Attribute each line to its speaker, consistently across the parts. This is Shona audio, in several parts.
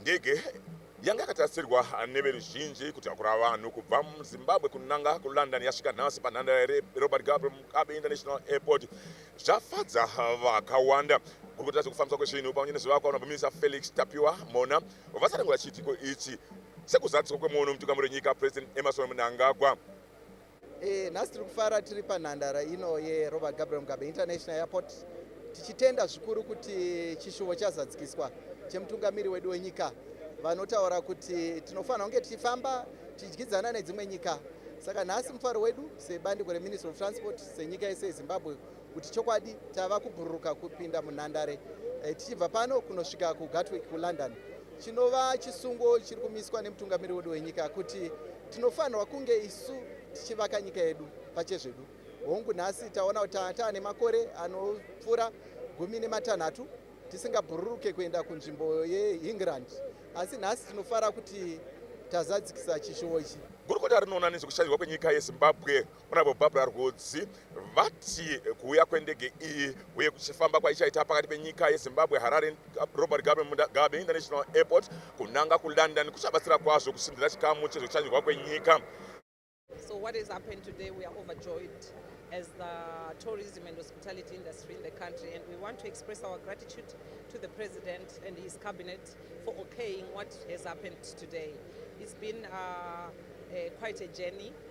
Speaker 1: ndege yanga yakatarisirwa neveruzhinji kutakura vanhu kubva muzimbabwe kunanga kulondon yasvika nhasi panhandare yerobert gabe international airport zvafadza vakawanda kurikuta zvekufambiswa kwezvinhu pamwe nezvivakwa unobumirisa felix tapiwa mona vasarangura chiitiko ichi sekuzadziswa kwemuono mutungamiri wenyika president emerson mnangagwa E,
Speaker 2: nhasi tiri kufara tiri panhandara ino yerobert gabriel mugabe international airport tichitenda zvikuru kuti chishuvo chazadzikiswa chemutungamiri wedu wenyika vanotaura kuti tinofanira kunge tichifamba tichidyidzana nedzimwe nyika saka nhasi mufaro wedu sebandiko reministry of transport senyika yese yezimbabwe kuti chokwadi tava kubhururuka kupinda munhandare eh, tichibva pano kunosvika kugatwick kulondon chinova chisungo chiri kumiswa nemutungamiri wedu wenyika kuti tinofanirwa kunge isu tichivaka nyika yedu pachezvedu hongu nhasi taona kuti taane makore anopfuura gumi nematanhatu tisingabhururuke kuenda kunzvimbo yeengland asi nhasi tinofara kuti tazadzikisa chishuwo ichi gurukota rinoona nezvekushairwa
Speaker 1: kwenyika yezimbabwe Honorable Barbara Rwodzi vati kuuya kwendege iyi uye kuchifamba kwaichaita pakati penyika yeZimbabwe Harare Robert Mugabe International Airport kunanga kuLondon kuchabatsira kwazvo kusimbira chikamu chezvekushanyirwa kwenyika. So
Speaker 3: what has happened today we are overjoyed as the tourism and hospitality industry in the country and we want to express our gratitude to the president and his cabinet for okaying what has happened today. It's been uh, uh, quite a journey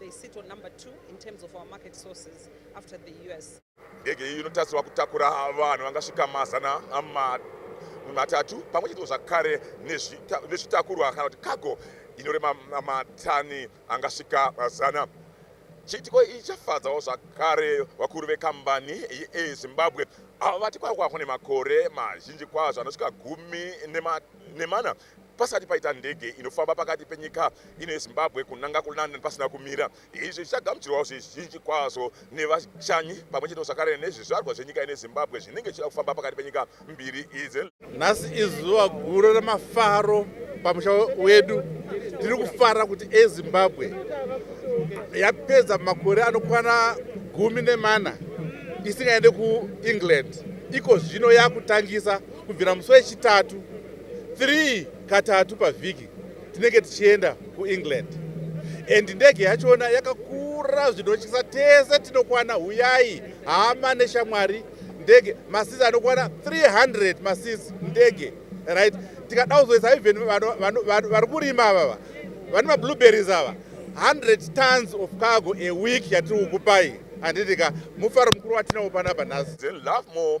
Speaker 3: They sit on number two in terms of our market sources after the US. Ndege iyi inotarisirwa
Speaker 1: kutakura vanhu vangasvika mazana matatu pamwe chete zvakare nezvitakurwa kana kuti cargo inorema matani angasvika zana. Chiitiko ichi chafadzawo zvakare vakuru vekambani yeAir Zimbabwe avo vati kwakwaho nemakore mazhinji kwazvo anosvika gumi nemana pasati paita ndege inofamba pakati penyika ino yezimbabwe kunanga kulondon pasina kumira izvi zvichagamuchirwawo zvizhinji kwazvo nevashanyi pamwe chete zvakare nezvizvarwa zvenyika ine zimbabwe zvinenge zvichida kufamba pakati penyika mbiri idzi nhasi izuva
Speaker 4: guru remafaro pamusha wedu tiri kufara kuti ezimbabwe yapedza makore anokwana gumi nemana isingaende kuengland iko zvino yakutangisa Kubvira musi wechitatu 3 katatu pavhiki tinenge tichienda kuengland and ndege yachona yakakura zvinotyisa tese tinokwana huyai hama neshamwari ndege masizi anokwana 300 masizi ndege right tikada kuzoisa even vari kurima avava vane mablueberries ava 100 tons of cargo a week yatiri kukupai handitika mufaro mukuru watinawo panapa nhasi then love more